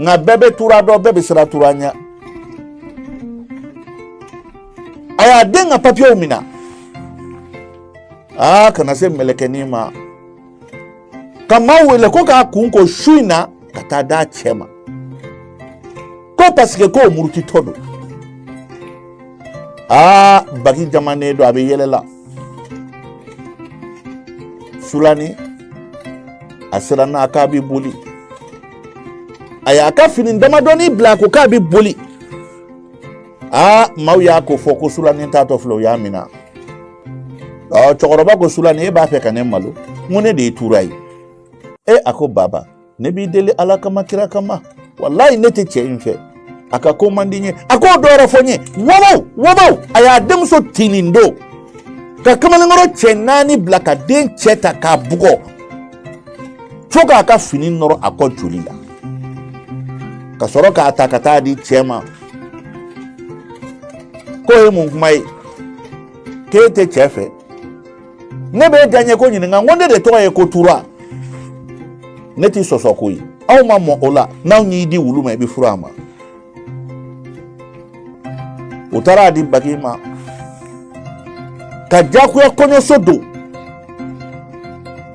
nka bɛɛ bɛ tura dɔn bɛɛ bɛ siran tura ɲɛ a y'a den ka papiyew minɛ aa ka na se mɛlɛkɛnin ma ka maa wele ko k'a kun ko su in na ka taa d'a cɛ ma ko paseke k'o murutitɔ don aa bagi jamanen don a bɛ yɛlɛ la sulani a siranna a k'a bɛ boli a y'a ka fini damadɔni bila ko k'a bɛ boli aa maaw y'a ko fɔ ko sulani taatɔ filɛ u y'a minɛ ɔ cɛkɔrɔba ko sulani e b'a fɛ ka ne malo n ko ne de ye tura ye e a ko baba ne b'i deli ala kama kira kama walayi ne tɛ cɛ in fɛ a ka ko man di n ye a ko dɔ wɛrɛ fɔ n ye wabaw wabaw a y'a denmuso tinin don ka kamalenkɔrɔ cɛ naani bila ka den cɛ ta k'a bugɔ fo k'a ka fini nɔrɔ a kɔ joli la ka sɔrɔ k'a ta ka taa di cɛ ma k'o ye mun kuma ye k'e tɛ cɛ fɛ ne bɛ diyaɲɛ ko ɲininka ko ne de tɔgɔ ye ko tura ne tɛ sɔsɔ koyi aw ma mɔ o la n'an y'i di wulu ma i bɛ furu a ma u taara a di bagi ma ka jagoya kɔɲɔso don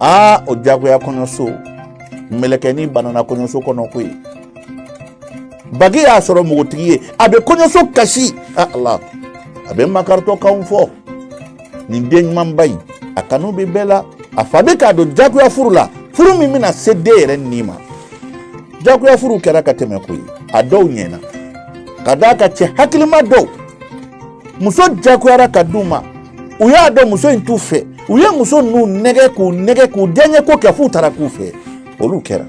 aa o jagoya kɔɲɔso mɛlɛkɛnin banana kɔɲɔso kɔnɔ koyi bagi y'a sɔrɔ npogotigi ye a bɛ kɔɲɔso kasi a ala a bɛ makaritɔkanw fɔ nin den ɲumanba in a kanu bɛ bɛɛ la a fa bɛ k'a don jagoya furu la furu min bɛna se den yɛrɛ ni ma jagoya furu kɛra ka tɛmɛ koyi a dɔw ɲɛna ka d'a kan cɛ hakilima dɔw muso jagoyara ka d'u ma u y'a dɔn muso in t'u fɛ u ye muso ninnu nɛgɛ k'u nɛgɛ k'u diyaɲɛ ko kɛ f'u taara k'u fɛ olu kɛra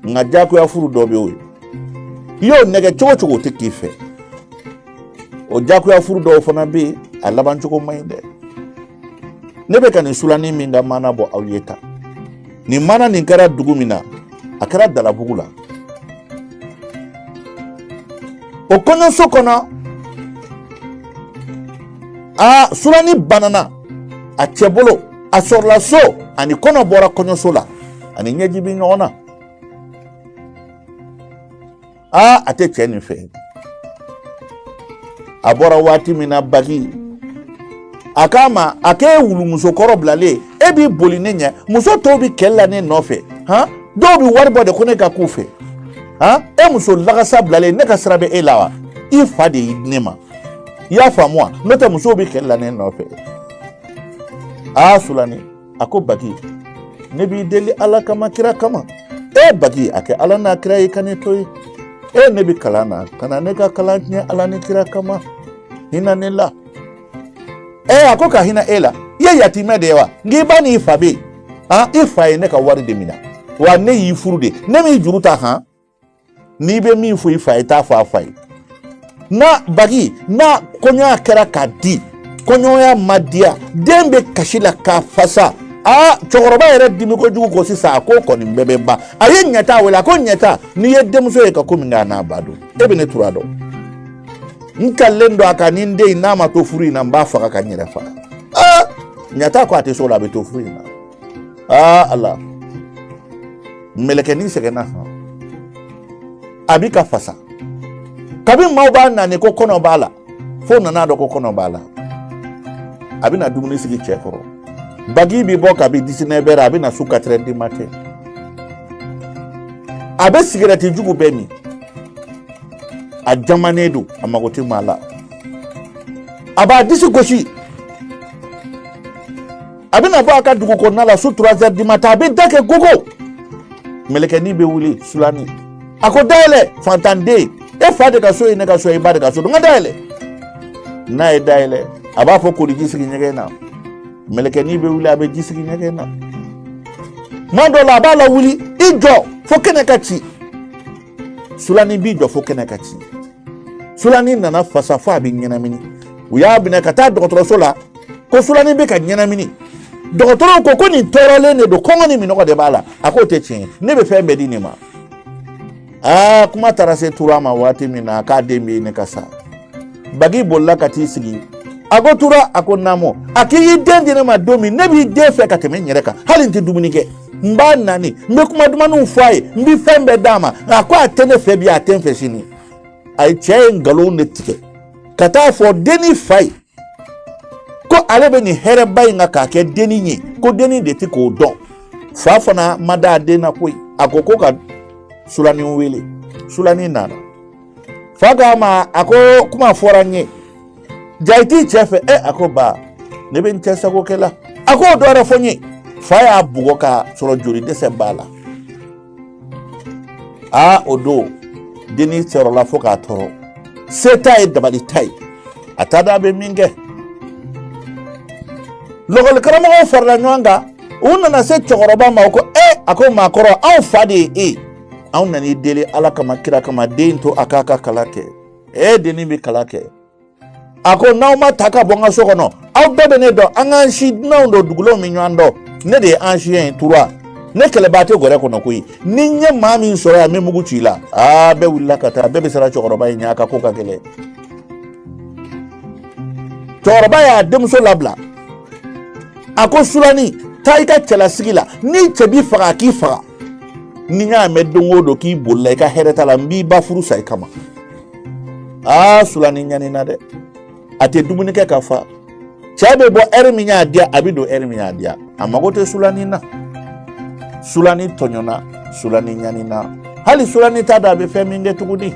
nka jagoya furu dɔ bɛ yen o ye i y'o nɛgɛ cogo o cogo o tɛ k'i fɛ o jakuya furu dɔw fana bɛ yen a laban cogo man ɲi dɛ ne bɛ ka nin sulani min ka maana bɔ aw ye tan nin maana nin kɛra dugu min na a kɛra dalabugu la o kɔɲɔso kɔnɔ a sulani banana a cɛ bolo a sɔrɔla so a ni kɔnɔ bɔra kɔɲɔso la a ni ɲɛji bɛ ɲɔgɔn na aa a tɛ cɛ nin fɛ a bɔra waati min na bagi a k'a ma a k'e wulumuso kɔrɔ bilalen e b'i boli ne ɲɛ muso tɔw bɛ kɛlɛ la ne nɔfɛ han dɔw bɛ wari bɔ de ko ne ka k'u fɛ han e muso lagasa bilalen ne ka sira bɛ e la wa i fa de y'i di ne ma i y'a faamu wa n'o tɛ musow bɛ kɛlɛ la ne nɔfɛ aa sulani a ko bagi ne b'i deli ala kama kira kama e bagi a kɛ ala n'a kira ye ka ne to ye e ne bɛ kalan na kana ne ka kalan tiɲɛ ala ni kira kama hinɛ ne la e a ko ka hinɛ e la i ye yatimɛ de ye wa nka i ba n'i fa bɛ yen i fa ye ne ka wari de minɛ wa ne y'i furu de ne m'i juru ta han n'i bɛ min fɔ i fa ye t'a fɔ a fa ye n'a bagi n'a kɔɲɔya kɛra k'a di kɔɲɔya ma diya den bɛ kasi la ka fasa aa cɛkɔrɔba yɛrɛ dimi kojugu ko sisan a ko kɔni bɛɛ bɛ ban a ye ɲɛta wele a ko ɲɛta n'i ye denmuso ye ka ko min kɛ a n'a ba don e bɛ ne tura dɔn n kalilen don a kan ni n den in n'a ma to furu in na n b'a faga ka n yɛrɛ faga aa ɲɛta ko a tɛ so la a bɛ to furu in na aa ala mɛlɛkɛnin sɛgɛnna han a bi ka fasa kabini maaw b'a nani ko kɔnɔ b'a la fo nan'a dɔn ko kɔnɔ b'a la a bɛna dumuni sigi cɛ kɔrɔ bagi bi bɔ kabi dix-neuf heures a bɛ na su quatre heures du matin a bɛ sigɛrɛti jugu bɛɛ min a jamanen don a mago tɛ maa la a b'a disi gosi a bɛna bɔ a ka dugu kɔnɔna la su trois heures du matin a bɛ da kɛ gogo mɛlɛkɛnin bɛ wuli sulani a ko da yɛlɛ fantanden e fa de ka so ye ne ka so ye i ba de ka so don n ka da yɛlɛ n'a ye da yɛlɛ a b'a fɔ koliji sigi ɲɛgɛn na mɛlɛkɛnin bɛ wuli a bɛ ji sigi ɲɛgɛn na tuma dɔw la a b'a lawuli i jɔ fo kɛnɛ ka ci sulani b'i jɔ fo kɛnɛ ka ci sulani nana fasa fo a bɛ ɲɛnamini u y'a minɛ ka taa dɔgɔtɔrɔso la ko sulani bɛ ka ɲɛnamini dɔgɔtɔrɔw ko ko nin tɔɔrɔlen de don kɔngɔ ni minɔgɔ de b'a la a k'o tɛ tiɲɛ ye ne bɛ fɛn bɛɛ di nin ma aa kuma taara se tura ma waati min na k'a den bɛ ɲini ka sa bagi bolila ka t'i sigi a ko tura a ko namo a k'i y'i den di ne ma don min ne b'i den fɛ ka tɛmɛ n yɛrɛ kan hali n tɛ dumuni kɛ n b'a nani n bɛ kuma dumanniw fɔ a ye n bɛ fɛn bɛɛ d'a ma a ko a tɛ ne fɛ bi a tɛ n fɛ sini a ye cɛ ye nkalon de tigɛ ka t'a fɔ denni fa ye ko ale bɛ nin hɛrɛba in kan k'a kɛ denni ye ko denni de tɛ ko dɔn fa fana ma da a den na koyi a ko ko ka sulani wele sulani nana fa k'a ma a ko kuma fɔra n ye ja i t'i cɛ fɛ ɛ a ko ba ne bɛ n cɛ sago kɛ la a ko dɔ wɛrɛ fɔ n ye fa y'a bugɔ k'a sɔrɔ joli dɛsɛ b'a la aa o don dennin tɔɔrɔla fo ka tɔɔrɔ se t'a ye dabali t'a ye a t'a dɔn a bɛ min kɛ lakɔli karamɔgɔw farala ɲɔgɔn kan u nana se cɛkɔrɔba ma u ko e a ko maakɔrɔ anw fa de ye e anw nan'i deli ala kama kira kama den to a k'a ka kalan kɛ e dennin bɛ kalan kɛ a ko n'aw ma taa ka bɔ n ka so kɔnɔ aw bɛɛ bɛ ne dɔn an k'an si dunanw don dugulenw bɛ ɲɔgɔn dɔn ne de ye an si ye tura ne kɛlɛbaa tɛ gɔrɛ kɔnɔ koyi ni n ye maa min sɔrɔ yan n bɛ mugu ci i la aa bɛɛ wulila ka taa bɛɛ bɛ siran cɛkɔrɔba in ɲɛ a ka ko ka gɛlɛn cɛkɔrɔba y'a denmuso labila a ko sulani taa i ka cɛlasigi la ni cɛ b'i faga a k'i faga ni n y'a mɛn don o don k'i bolila i ka hɛrɛ t'a la n b'i ba furu sa i kama aa sulani ɲanina dɛ a tɛ dumuni kɛ ka fa cɛ bɛ bɔ ɛri min y'a diya a bɛ don ɛri min y'a diya a mago tɛ sulani na sulani tɔɲɔna sulani ɲanina hali sulani t'a dɔn a bɛ fɛn min kɛ tuguni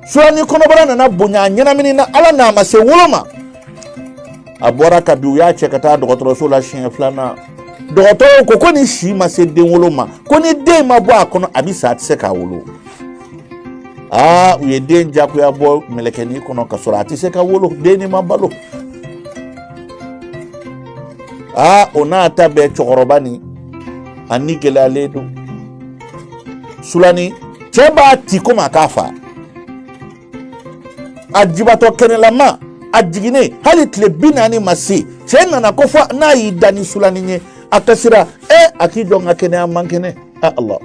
sulani kɔnɔbara nana bonya a ɲɛnaminina ala n'a ma se wolo ma a bɔra ka bin u y'a cɛ ka taa dɔgɔtɔrɔso la siɲɛ filanan dɔgɔtɔrɔw ko ko nin si ma se den wolo ma ko ni den ma bɔ a kɔnɔ a bɛ sa a tɛ se k'a wolo aa u ye den jagoya bɔ mɛlɛkɛni kɔnɔ ka sɔrɔ a tɛ se ka wolo denni ma balo aa o n'a ta bɛɛ cɛkɔrɔba nin a ni gɛlɛyalen don sulani cɛ b'a ti komi a k'a faga a jibatɔ kɛnɛlama a jiginnen hali tile bi naani ma se cɛ nana ko fo n'a y'i da ni sulani ye a kasira ɛ a k'i jɔ n ka kɛnɛya n man kɛnɛ Allah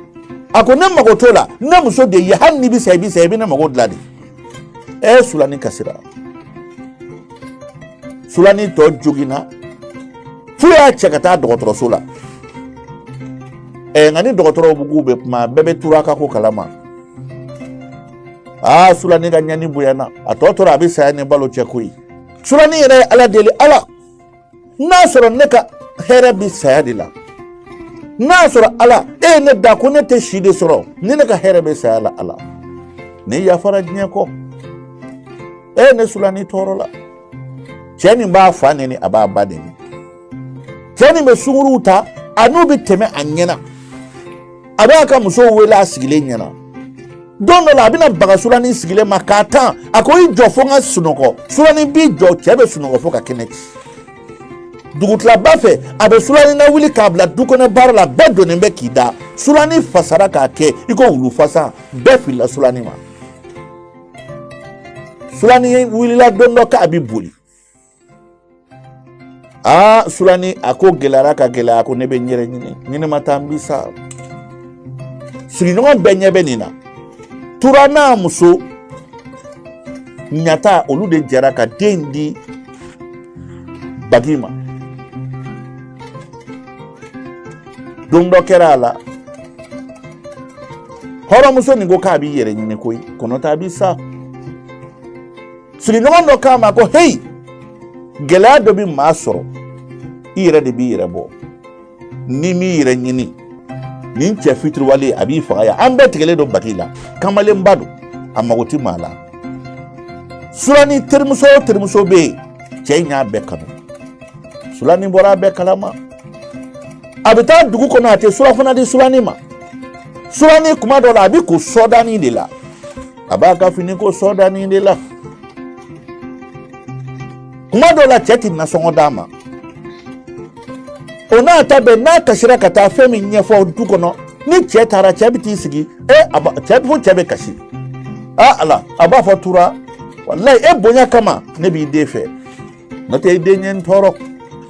a ko ne mago t'o la ne muso de ye hali n'i bɛ sa i bɛ sa i bɛ ne mago dilan de ɛ sulani kasira sulani tɔ joginna f'u y'a cɛ ka taa dɔgɔtɔrɔso la ɛ nka ni dɔgɔtɔrɔw bugu bɛ kuma bɛɛ bɛ tura ka ko kalama aa sulani ka ɲani bonyana a tɔ tora a bɛ saya ni balo cɛ koyi sulani yɛrɛ ye ala deli ala n'a sɔrɔ ne ka hɛrɛ bi saya de la n'a sɔrɔ ala e ye ne dan ko ne tɛ si de sɔrɔ ni ne ka hɛrɛ bɛ saya la ala ne yafara diɲɛ kɔ e ye ne sulani tɔɔrɔla cɛ nin b'a fa neni a b'a ba neni cɛ nin bɛ sunguruw ta a n'u bɛ tɛmɛ a ɲɛna a b'a ka musow wele a sigilen ɲɛna don dɔ la a bɛ na baga sulanin sigilen ma k'a tan a ko i jɔ fo n ka sunɔgɔ sulanin b'i jɔ cɛ bɛ sunɔgɔ fo ka kɛnɛ ci dugutilaba fɛ a bɛ sulanin nawuli k'a bila du kɔnɔ baara la bɛɛ donnen bɛ k'i da sulanin fasara k'a kɛ i ko wulu fasa bɛɛ filila sulanin ma sulanin wulila don dɔ k'a bɛ boli aa sulani a ko gɛlɛyara ka gɛlɛya ko ne bɛ n yɛrɛ ɲini ni ne ma taa n bi sa sigiɲɔgɔn bɛɛ ɲɛ bɛ nin na tura n'a muso ɲata olu de jɛra ka den di bagi ma don dɔ kɛra a la hɔrɔnmuso nin ko k'a b'i yɛrɛ ɲini koyi ko n'o t'a bi sa sigiɲɔgɔn dɔ k'a ma ko heyi gɛlɛya dɔ bɛ maa sɔrɔ i yɛrɛ de b'i yɛrɛ bɔ n'i m'i yɛrɛ ɲini nin cɛ fitiriwale a b'i faga yan an bɛɛ tigɛlen don bagi la kamalenba don a mago tɛ maa la sulani terimuso o terimuso bɛ yen cɛ in y'a bɛɛ kanu sulani bɔra a bɛɛ kalama a bɛ taa dugu kɔnɔ a tɛ surafana di sulani ma sulani kuma dɔ la a bɛ ko sɔdani de la a b'a ka fini ko sɔdani de la kuma dɔ la cɛ tɛ nasɔngɔ d'a ma o n'a ta bɛɛ n'a kasira ka taa fɛn min ɲɛfɔ du kɔnɔ ni cɛ taara cɛ bɛ t'i sigi e a ba cɛ fo cɛ bɛ kasi a ala a b'a fɔ tura walayi e bonya kama ne b'i den fɛ n'o tɛ i den ye n tɔɔrɔ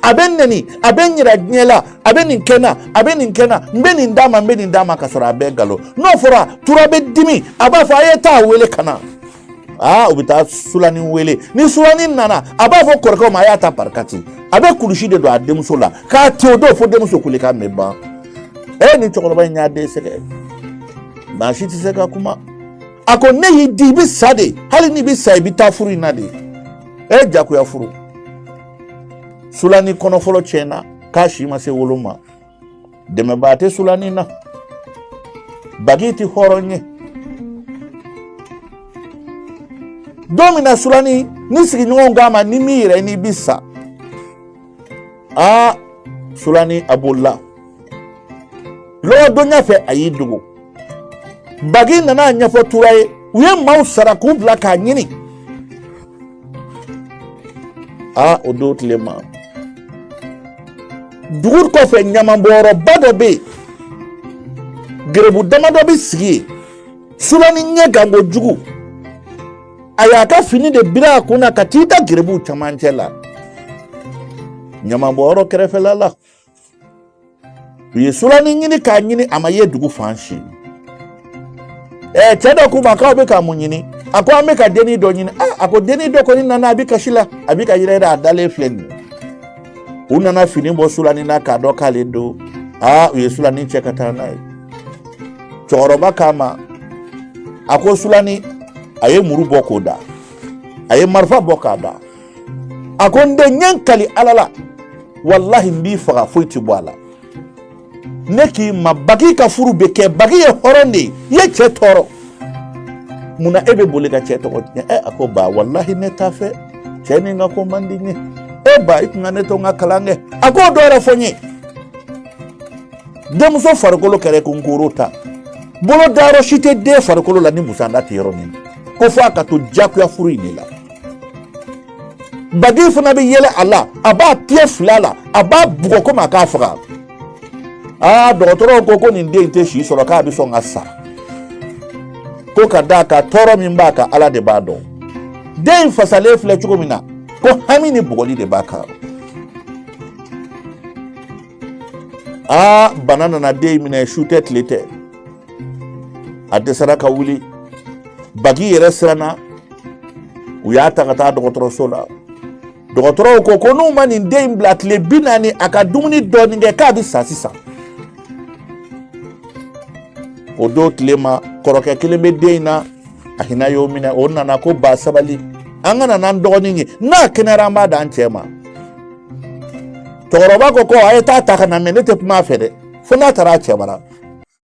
a bɛ n neni a bɛ n yira diɲɛ la a bɛ nin kɛ n na a bɛ nin kɛ n na n bɛ nin d'a ma n bɛ nin d'a ma ka sɔrɔ a bɛɛ nkalon n'o fɔra tura bɛ dimi a b'a fɔ a ye taa wele ka na aa u bɛ taa sulani wele ni sulani nana a b'a fɔ kɔrɔkɛw ma a y'a ta barikati a bɛ kulusi de don a denmuso la k'a te o don fo denmuso kulekan bɛ ban e ni cɛkɔrɔba in y'a den sɛgɛn maa si tɛ se ka kuma a ko ne y'i di i bɛ sa de hali n'i bɛ sa i bɛ taa furu in na de ɛ e jagoya furu sulani kɔnɔ fɔlɔ tiɲɛna k'a si ma se wolo ma dɛmɛbaa tɛ sulani na bagi tɛ hɔrɔn ye don min na sulani nin sigiɲɔgɔnw k'a ma n'i m'i yɛrɛ ɲini i bi sa aa sulani a bolila lɔgɔdonya fɛ a y'i dogo bagi nana a ɲɛfɔ tura ye u ye maaw sara k'u bila k'a ɲini aa o don tile ma dugu kɔfɛ ɲamanbɔyɔrɔba dɔ bɛ yen gerebu damadɔ bɛ sigi yen sulani ɲɛgan kojugu a y'a ka fini de biri a kunna ka t'i da gerebuw camancɛ la ɲamanbɔyɔrɔ kɛrɛfɛla la u ye sulani ɲini k'a ɲini a ma ye dugu fan si ɛɛ cɛ dɔ k'u ma k'aw bɛ ka mun ɲini a ko an bɛ ka denni dɔ ɲini a ko denni dɔ kɔni nana a bɛ kasi la a bɛ ka yɛrɛyɛrɛ a dalen filɛ nin ye u nana fini bɔ sulani na k'a dɔn k'ale don aa u ye sulani cɛ ka taa n'a ye cɛkɔrɔba k'a ma a ko sulani a ye muru bɔ k'o da a ye marifa bɔ k'a da a ko n den n ye n kali ala la walahi n b'i faga foyi ti bɔ a la ne k'i ma bagi ka furu bɛ kɛ bagi ye hɔrɔn de ye i ye cɛ tɔɔrɔ mun na e bɛ boli ka cɛ tɔgɔ tiɲɛ ɛ a ko ba walahi ne t'a fɛ cɛ nin ka ko man di n ye e ba i tun ka ne to n ka kalan kɛ a ko dɔ wɛrɛ fɔ n ye denmuso farikolo kɛra ko nkoro ta bolo dayɔrɔ si tɛ den farikolo la ni musanda tɛ yɔrɔ min ko fo a ka to jakuya furu in de la bagi fana bɛ yɛlɛ a la a b'a tigɛ fila la a b'a bugɔ komi a k'a faga aa dɔgɔtɔrɔw ko ko nin den tɛ si sɔrɔ k'a bɛ sɔn ka sa ko ka d'a kan tɔɔrɔ min b'a kan ala de b'a dɔn den in fasalen filɛ cogo min na ko hami ni bugɔli de b'a kan aa bana nana den in minɛ su tɛ tile tɛ a dɛsɛra ka wuli bagi yɛrɛ siranna u y'a ta ka taa dɔgɔtɔrɔso la dɔgɔtɔrɔw ko ko n'u ma nin den in bila tile bi naani a ka dumuni dɔɔnin kɛ k'a bɛ sa sisan o don tile ma kɔrɔkɛ kelen bɛ den in na a hinɛ y'o minɛ o nana ko ba sabali an ka na n'an dɔgɔnin ye n'a kɛnɛyara an b'a d'an cɛ ma cɛkɔrɔba ko ko a ye t'a ta ka na mɛ ne tɛ kuma a fɛ dɛ fo n'a taara a cɛ bara